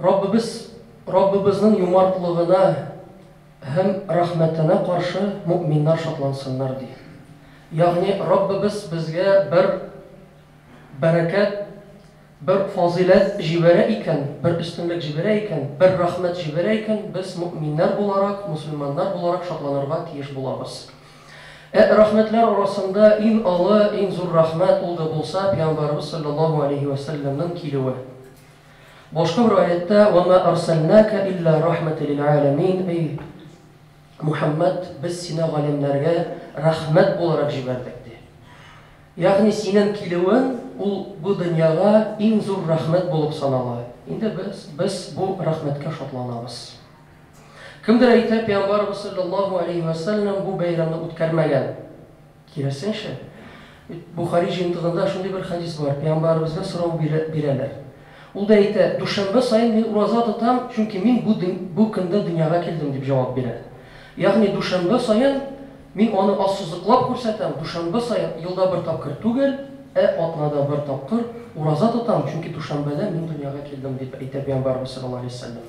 Раббыбыз Раббыбызның юмартлыгына һәм рәхмәтенә каршы мөэминнәр шатлансыннар, ди. Ягъни Раббыбыз безгә бер бәрәкәт, бер фазыйләт җибәрә икән, бер өстенлек җибәрә икән, бер рәхмәт җибәрә икән, без мөэминнәр буларак, мөселманнар буларак шатланырга тиеш булабыз. Ә рәхмәтләр арасында иң олы, иң зур рәхмәт ул да булса Пәйгамбәребез салләллаһу алейһи вә сәлләмнең килүе. Башка бер аятта, Вә мә әрсәлнәкә илля рәхмәтә лил әләмин, Эй, Мухәммәд, без сине галәмнәргә рәхмәт буларак җибәрдек, ди. Ягъни синең килүең ул бу дөньяга иң зур рәхмәт булып санала. Инде без без бу рәхмәткә шатланабыз. Кемдер әйтә, пиамбарыбыз салләллаһу аләйһи вә сәлләм бу бәйрәмне үткәрмәгән. Киресенчә, Бухари җыентыгында шундый бер хәдис бар, пиамбарыбызга сорау бирәләр. Ул да әйтә, дүшәмбе саен мин ураза тотам, чөнки мин бу бу көндә дөньяга килдем, дип җавап бирә. Ягъни дүшәмбе саен мин аны ассызыклап күрсәтәм, дүшәмбе саен, елда бер тапкыр түгел, ә атнада бер тапкыр ураза тотам, чөнки дүшәмбедә мин дөньяга килдем, дип әйтә пиамбарыбыз салләллаһу аләйһи вә сәлләм.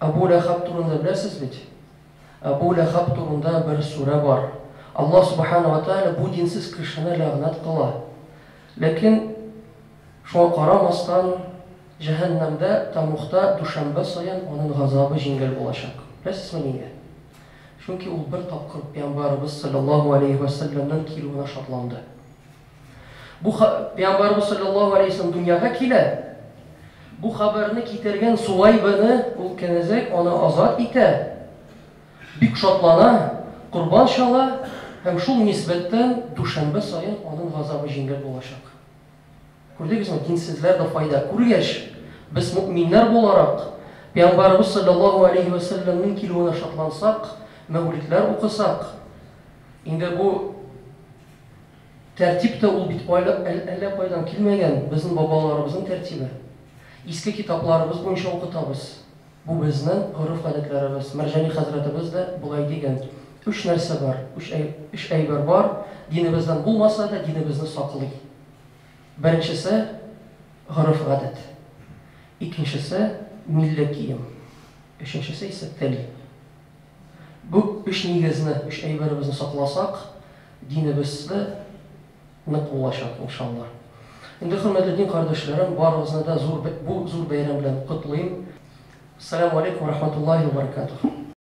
Әбү Ләхәб турында беләсез бит? Әбү Ләхәб турында бер сүрә бар. Аллаһ Субхана ва Тәгалә бу динсез кешене ләгънәт кыла. Ләкин шуңа карамастан, җәһәннәмдә, Тамухта дүшәмбә саен анын газабы җиңел булачак. Беләсезме нигә? Чөнки ул бер тапкыр Пәйамбарыбыз салләллаһу галәйһи вә сәлләмнең килүенә шатланды. Бу ха, Пәйгамбәрбез салләллаһу алейһи вәсәлләм дөньяга килә. Бу хәбәрне китергән Суайбәне ул кенәзәк аны азат итә. Бик шатлана, корбан чала һәм шул нисбәттән дүшәмбе саен аның газабы җиңел булачак. Күрдегезме, динсезләр дә файда күргәч, без мөэминнәр буларак, Пәйгамбәрбез салләллаһу алейһи вәсәлләмнең килүенә шатлансак, мәүлидләр укысак, инде бу Тәртип тә ул бит айлап әллә кайдан килмәгән, безнең бабаларыбызның тәртибе. Иске китапларыбыз буенча укытабыз. Бу безнең гореф-гадәтләребез. Мәрҗани хәзрәтебез дә болай дигән. Өч нәрсә бар, өч әйбер бар, динебездән булмаса да, динебезне саклый. Беренчесе, гореф-гадәт. Икенчесе, милли кием. Өченчесе исә, тел. Бу өч нигезне, өч әйберебезне сакласак, динебез дә нык булачак, иншалла. Инде, хөрмәтле дин кардәшләрем, барыгызны да зур бу зур бәйрәм белән котлыйм. Саләму алейкум ва рахматуллаһи ва баракатуһ.